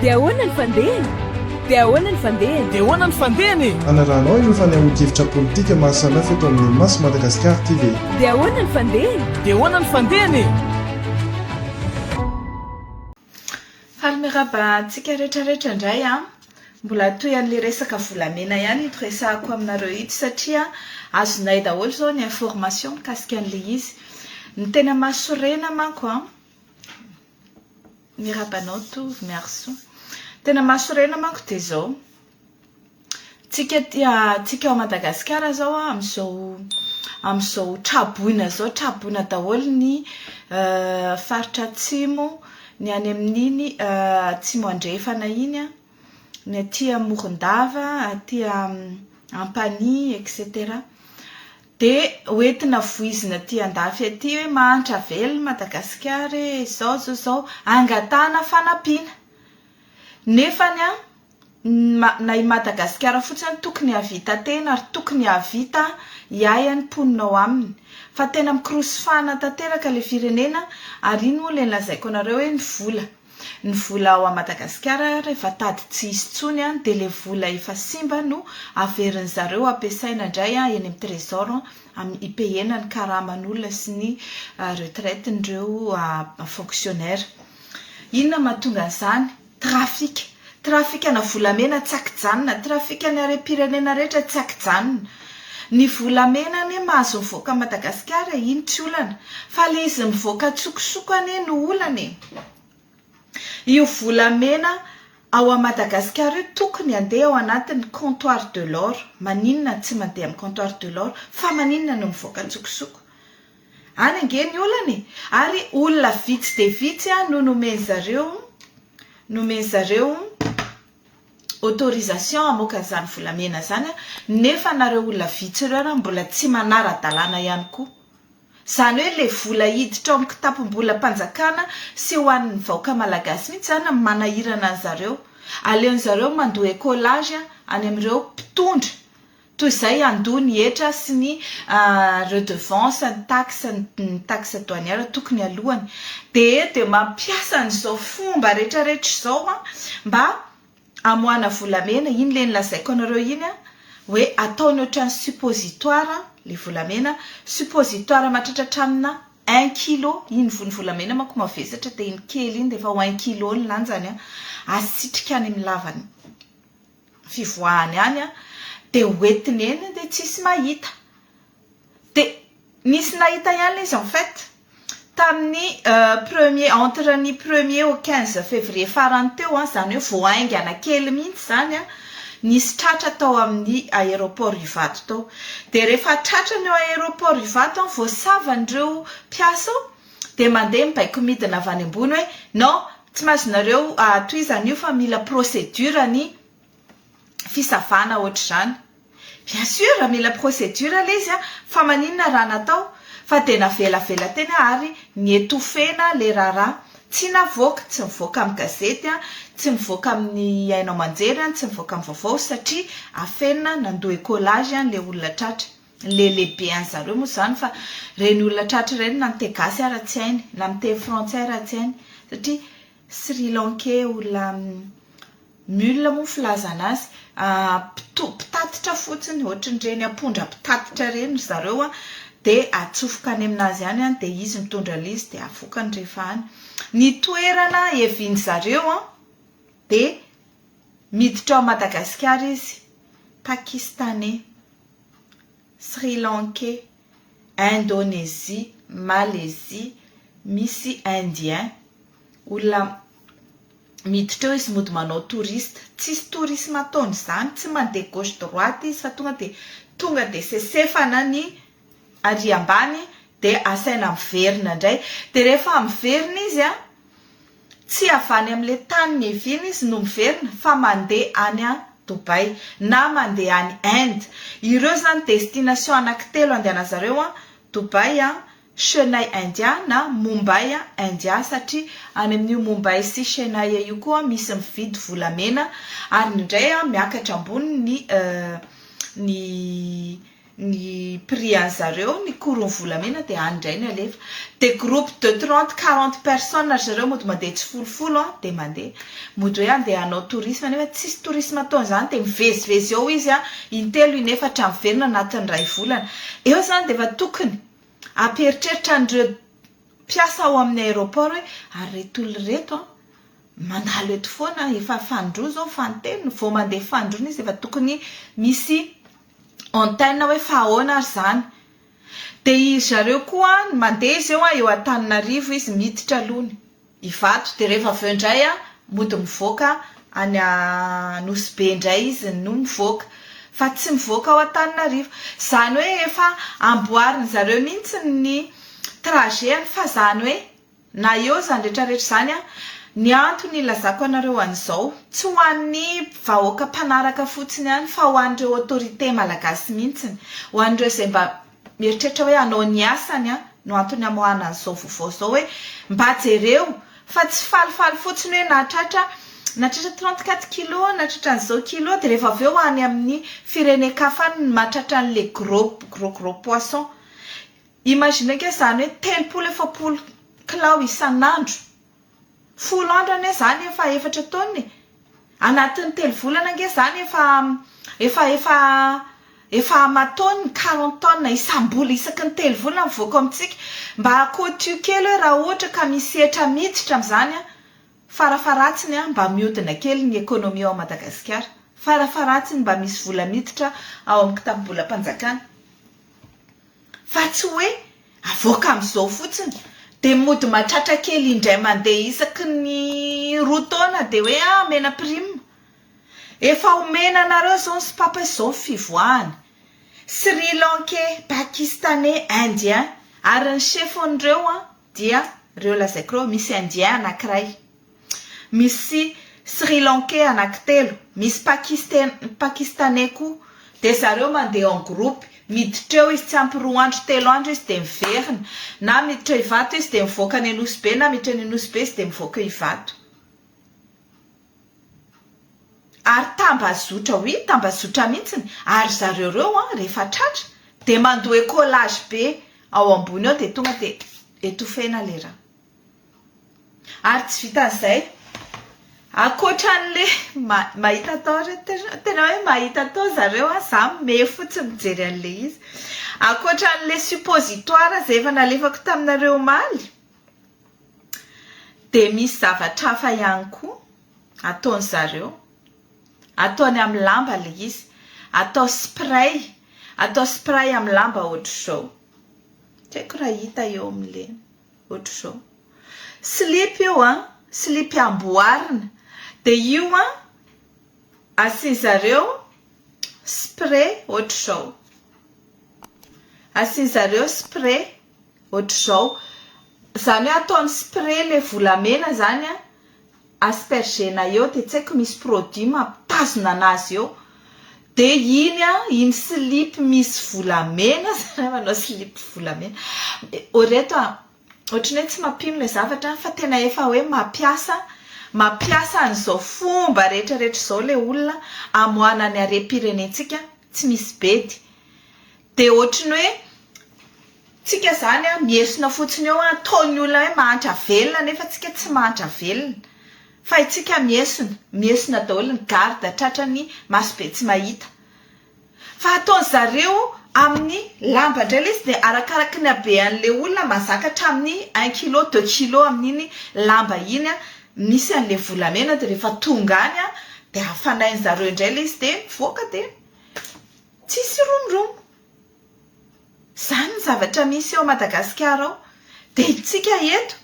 Dia ahoana ny fandehany? Dia ahoana ny fandehany? Dia ahoana ny fandehany e? Hanarahanao ireo fanehoan-kevitra politika maha samihafa eto amin'ny Maso Madagasikara TV. Dia ahoana ny fandehany? Dia ahoana ny fandehany e? Faly miarahaba antsika rehetra rehetra indray an! Mbola toy an'ilay resaka volamena ihany ito resahako aminareo ito satria azonay daholo izao ny information mikasika an'ilay izy. Ny tena mahasorena manko an, miraba anao Tovo, merci. Ny tena mahasorena manko dia izao, tsika tia tsika ao Madagasikara izao amin'izao amin'izao traboina izao, traboina daholo ny faritra atsimo. ny any amin'iny Atsimo Andrefana iny an, ny aty Morondava, aty Ampanihy etc. Dia hoentina voizina aty andafy aty hoe mahantra velona Madagasikara e, izao izao izao, angatahana fanampiana. Nefany an, na i Madagasikara fotsiny tokony hahavita tena ary tokony hahavita hiahy ny mponina ao aminy fa tena mikorosy fahana tanteraka ilay firenena ary iny moa ilay nolazaiko anareo hoe ny vola ny vola ao Madagasikara rehefa tady tsy hisy intsony dia ilay vola efa simba no averin'ny zareo ampiasaina indray eny amin'ny trésor hipehena ny karaman'olona sy ny retraite-n'ireo fonctionnaire inona mahatonga an'izany Trafika. Trafikana volamena tsy akijanona. Trafikan'ny harem-pirenena rehetra tsy akijanona. Ny volamena anie mahazo mivoaka Madagasikara e, iny tsy olana. Fa ilay izy mivoaka an-tsokosoko anie no olana e. Io volamena ao amin'i Madagasikara io tokony handeha ao anatin'ny comptoir de l'or. Maninona tsy mandeha amin'ny comptoir de l'or? Fa maninona no mivoaka an-tsokosoko? Any ange ny olana e! Ary olona vitsy dia vitsy no nomen-dry zareo nomen-dry zareo autorisation hamoaka an'izany volamena izany nefa anareo olona vitsy ireo ary mbola tsy manara-dalàna ihany koa. Izany hoe ilay vola hiditra ao amin'ny kitapom-bolam-panjakana sy ho an'ny vahoaka malagasy mihitsy izany no manahirana an'i zareo. Aleon'i zareo mandoa écolage any amin'ireo mpitondra Toy izay handoa ny hetra sy ny redevance, ny taxe, ny taxe douanière tokony aloany. Dia dia mampiasa an'izao fomba retraretra izao mba hamoahana volamena. Iny ilay lazaiko anareo iny hoe ataony ohatran'ny suppositoire ilay volamena. Suppositoire mahatratra hatraminà un kilo. Iny voan'ny volamena manko mavesatra dia iny kely iny dia efa ho un kilo ny lanjany. Asitrika any amin'ny lavany. fivoahany any dia hoentiny eny dia tsisy mahita dia nisy nahita ihany ilay izy en fait tamin'ny premier entre ny premier au quinze février farany teo an izany hoe vao haingana kely mihitsy izany an nisy tratra tao amin'ny aéroport Ivato tao dia rehefa tratra ny ao aéroport Ivato an voasava an'ireo mpiasa ao dia mandeha mibaiko midina avy any ambony hoe non Tsy mahazoanareo tohizana io fa mila procédure ny fisavana ohatr'izany. Bien sûr mila procédure ilay izy fa maninona raha natao fa dia navelavela teny ary nietoufena ilay raharaha. Tsy navoaka, tsy mivoaka amin'ny gazety, tsy mivoaka amin'ny haino aman-jery, tsy mivoaka amin'ny vaovao satria afenina, nandoa écolage ilay olona tratra. Lele be an zareo moa zany fa reny olona tratra ireny na miteny gasy ara tsy hainy na miteny frantsay ara tsy hainy satria sri lankais olona mul moa ny filazana azy mpitatitra fotsiny ohatran'ireny ampondra mpitatitra ireny ry zareo an dia atsofoka any aminazy any an dia izy mitondra an'ilay izy dia avokany rehefa any ny toerana eviany zareo an dia miditra ao madagasikara izy pakistanais Sri Lankais, Indonesie, Malaisie, misy Indien, olona miditra eo izy mody manao touriste, tsisy tourisme ataony izany, tsy mandeha gauche droite izy fa tonga dia tonga dia sesefana ny ary ambany dia asaina miverina indray, dia rehefa miverina izy a. Tsy avy any amin'ilay tany niaviany izy no miverina fa mandeha any an Dubai na mandeha any Inde. Ireo izany destination anankitelo andehanan'zareo an Dubai an, Chennai India na Mumbai India satria any amin'io Mumbai sy Chennai io koa misy mividy volamena ary indray miakatra ambony ny ny ny prix an'i zareo, ny courony volamena dia any indray ny alefa, dia groupe de trente, quarante personnes ry zareo mody mandeha tsy folofolo an, dia mandeha, mody hoe andeha hanao tourisme nefa tsisy tourisme ataony izany dia mivezivezy eo izy an, intelo inefatra miverina anatin'ny iray volana, eo izany dia efa tokony hampieritreritra an'ireo mpiasa ao amin'ny aéroport hoe ary ireto olona ireto an, mandalo eto foana, efa fanindroa izao ny faninteny, vao mandeha fanindroa izy dia efa tokony misy Antenne hoe fa ahoana ary izany? Dia iry zareo koa mandeha izy eo eo Antananarivo izy miditra aloha ny Ivato dia rehefa avy eo indray mody mivoaka any Nosy Be indray izy no mivoaka fa tsy mivoaka ao Antananarivo. Izany hoe efa amboarin'ny zareo mihitsy ny trajet-ny fa izany hoe Na eo izany rehetra rehetra izany an, ny antony ilazako anareo an'izao, tsy ho an'ny vahoaka mpanaraka fotsiny ihany fa ho an'ireo autorités malagasy mihitsiny, ho an'ireo izay mba mieritreritra hoe hanao ny asany an, no antony hamoahana an'izao vaovao izao hoe mba jereo fa tsy falifaly fotsiny hoe nahatratra nahatratra trente quatre kilos, nahatratra an'izao kilos, dia rehefa avy eo any amin'ny firenen-kafa any no mahatratra an'ilay gros gros gros poisson. Imaginer ange izany hoe telopolo efapolo kilao isan'andro, folo andro anie izany efa efatra taonina e! Anatin'ny telo volana ange izany efa efa efa efa aman-taonina, quarante tonnes isam-bola isaky ny telo volana mivoaka ao amintsika. Mba côtieux kely hoe raha ohatra ka misy hetra miditra amin'izany, farafaharatsiny mba mihodina kely ny économie ao Madagasikara, farafaharatsiny mba misy vola miditra ao amin'ny kitapom-bolam-panjakana. fa tsy hoe avoaka amin'izao fotsiny dia mody mahatratra kely indray mandeha isaky ny roa taona dia hoe ah omena prime. Efa omena anareo izao ny Spap fa izao ny fivoahany. Sri Lankais, Pakistanais, Indiens ary ny chef-n'ireo an, Dia reo lazaiko reo misy indien anakiray, misy sri lankais anakitelo, misy pakistena, pakistanais koa, dia zareo mandeha en groupe, miditra eo izy tsy ampy roa andro telo andro izy dia miverina, na miditra ivato izy dia mivoaka any anosibe na miditra any anosibe izy dia mivoaka ivato. ary tambazotra ho iny tambazotra mihitsiny ary zareo reo an rehefa tratra dia mandoe collage be ao ambony ao dia tonga dia etofena le ra ary tsy vitan'izay akoatran'le mahita atao re tena hoe mahita atao zareo an za me fotsy mijery an'le izy akoatran'le suppositoire zay efa nalefako taminareo omaly Dia misy zavatra hafa ihany koa ataony zareo, ataony amin'ny lamba ilay izy, atao spray, atao spray amin'ny lamba ohatr'izao, tsy haiko raha hita eo amin'ny lena, ohatr'izao. Slip io an, slip amboarina, dia io an, asiany zareo spray ohatr'izao, asiany zareo spray. ohatr'izao, izany hoe ataony spray ilay volamena izany an, asperger-na eo dia tsy haiko misy produit mampitazona an'azy eo dia iny an, iny slip misy volamena, zalahy manao slip volamena, oh ry reto an, ohatry ny hoe tsy mampino ilay zavatra fa tena efa hoe mampiasa, mampiasa an'izao fomba rehetrarehetra izao ilay olona hamoahana ny harem-pirenentsika tsy misy bedy, Dia ohatry ny hoe tsika izany an, mihesona fotsiny eo an, ataon'ny olona hoe mahantra velona nefa tsika tsy mahantra velona. Fa itsika mihesona, mihesona daholo ny garde tratran'ny masobe tsy mahita. Fa ataon'ny zareo amin'ny lamba indray ilay izy dia arakaraky ny habean'ilay olona mazaka hatramin'ny un kilo, deux kilo amin'iny lamba iny an, misy an'ilay volamena dia rehefa tonga any an dia hafanain'ny zareo indray ilay izy dia mivoaka dia. Tsisy romoromo. Izany ny zavatra misy ao Madagasikara ao. Dia isika eto,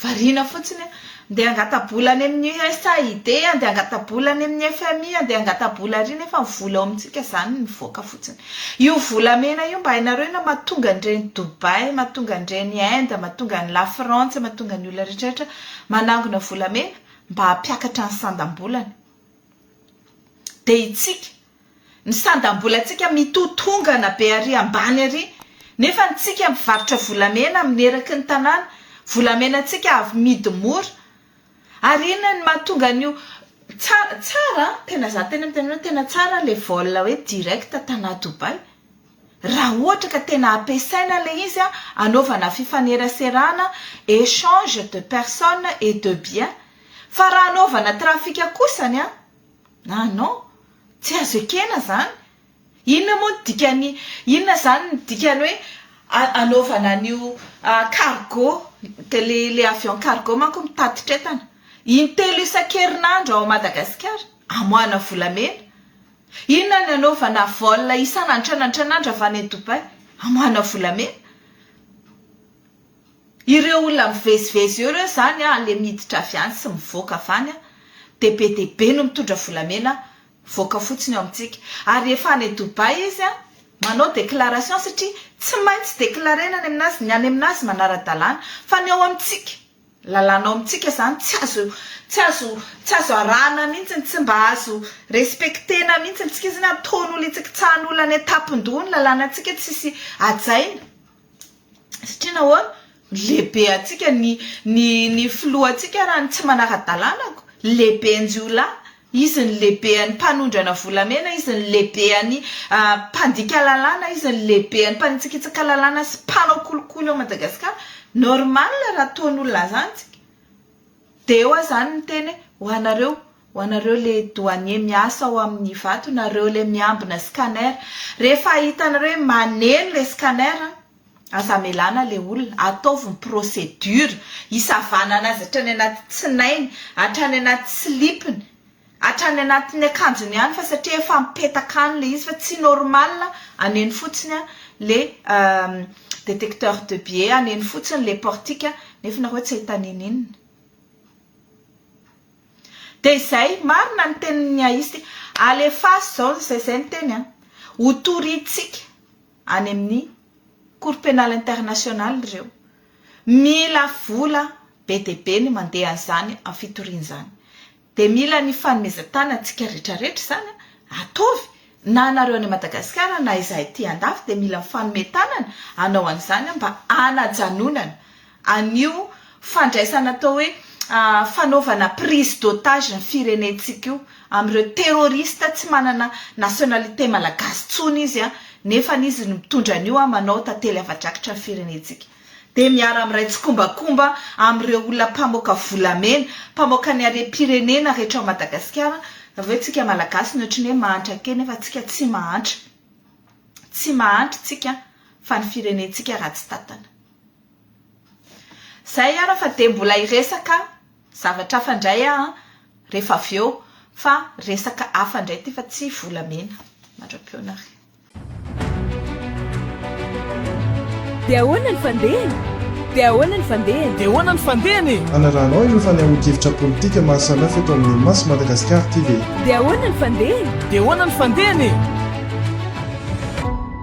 variana fotsiny hoe andeha hangata-bola any amin'ny USAID, andeha hangata-bola any amin'ny FMI, andeha hangata-bola ary nefa ny vola ao amintsika izany no mivoaka fotsiny. Io volamena io mba hainareo na mahatonga an'ireny Dubaï, mahatonga an'ireny Inde, mahatonga an'i Lafrantsa, mahatonga ny olona rehetra rehetra manangona volamena mba hampiakatra ny sandam-bolany. Dia isika. Ny sandam-bolantsika mitotongana be ary ambany ary nefa ny tsika mpivarotra volamena amin'ny eraky ny tanàna, volamenantsika avy midy mora. Ary inona ny mahatonga an'io? Tsara, tsara an! Tena za tena miteny hoe tena tsara le vol hoe direct tana Dubai. Raha ohatra ka tena ampiasaina le izy an, anaovana fifaneraserana, echange de personne et de bien. Fa raha anaovana trafic kosa ny an! Ah non, tsy azo ekena izany. Inona moa ny dikan'ny, inona izany ny dikany hoe anaovana an'io cargo, dia le le avion cargo manko mitatitra entana intelo isan-kerinandro ao Madagasikara, amoahana volamena. Inona ny anaovana vol isan'antrana antrana avy any Dubaï, amoahana volamena. Ireo olona mivezivezy eo ireo zany an le miditra avy any sy mivoaka avy any an de be dia be no mitondra volamena mivoaka fotsiny eo amintsika ary rehefa any Dubaï izy an manao déclaration satria tsy maintsy déclarena any aminazy ny any aminazy manara-dalàna fa ny ao amintsika lalàna ao amintsika zany tsy azo tsy azo tsy azo arahana mihitsy tsy mba azo respectena mihitsy ny tsika zany ataon'olo hitsakitsahan'olo any an-tampon-doha ny lalànantsika tsisy hajaina satria nahoana lehibe antsika ny ny ny filoha antsika raha ny tsy manara-dalanako lehibe anjiolahy izy ny lehibe any mpanondrana volamena izy ny lehibe any mpandika lalàna izy ny lehibe any mpanitsakitsaka lalàna sy mpanao kolikoly ao madagasikara normal raha ataon'olona zany tsika Dia eo aho izany niteny hoe, Ho anareo, ho anareo ilay douanier miasa ao amin'ny Ivato, nareo ilay miambina scanner, rehefa hitanareo hoe maneno ilay scanner, aza amelana ilay olona, ataovy ny procédure hisavanana azy hatrany anaty tsinainy, hatrany anaty slip-ny. Hatrany anatin'ny akanjony ihany fa satria efa mipetaka any le izy fa tsy normal aneno fotsiny an le detecteur de billets aneno fotsiny le portique nefa nareo tsy ahita ninininona de izay marina ny tenin'ny aisty alefaso zao ny zay zay ny teny an ho toritsika any amin'ny cour penal international ireo mila vola be de be ny mandeha an'izany fitoriana izany Dia mila ny fanomezan-tanana tsika rehetra rehetra izany atovy na anareo any Madagasikara na izahay ety an-dafy dia mila mifanome tanana anao an'izany mba hanajanonana an'io fandraisana atao hoe fanaovana prise d'otage ny firenentsika io amin'ireo terroriste tsy manana nationalité malagasy intsony izy nefa izy no mitondra an'io manao tantely hava-drakitra ny firenentsika. dia miara-miray tsikombakomba amin'ireo olona mpamoaka volamena, mpamoaka ny harem-pirenena rehetra ao Madagasikara, ve tsika Malagasy ny ohatry ny hoe mahantra kely nefa tsika tsy mahantra. Tsy mahantra tsika fa ny firenentsika ratsy tantana. Zay ara fa dia mbola hiresaka zavatra hafa indray aho rehefa avy eo fa resaka hafa indray ity fa tsy volamena. Mandra-piona ary. Dia ahoana ny fandehany? Dia ahoana ny fandehany? Dia ahoana ny fandehany? Anarahanao ireo fanehoan-kevitra politika maro samihafa eto amin'ny Mas Madagascar TV. Dia ahoana ny fandehany? Dia ahoana ny fandehany?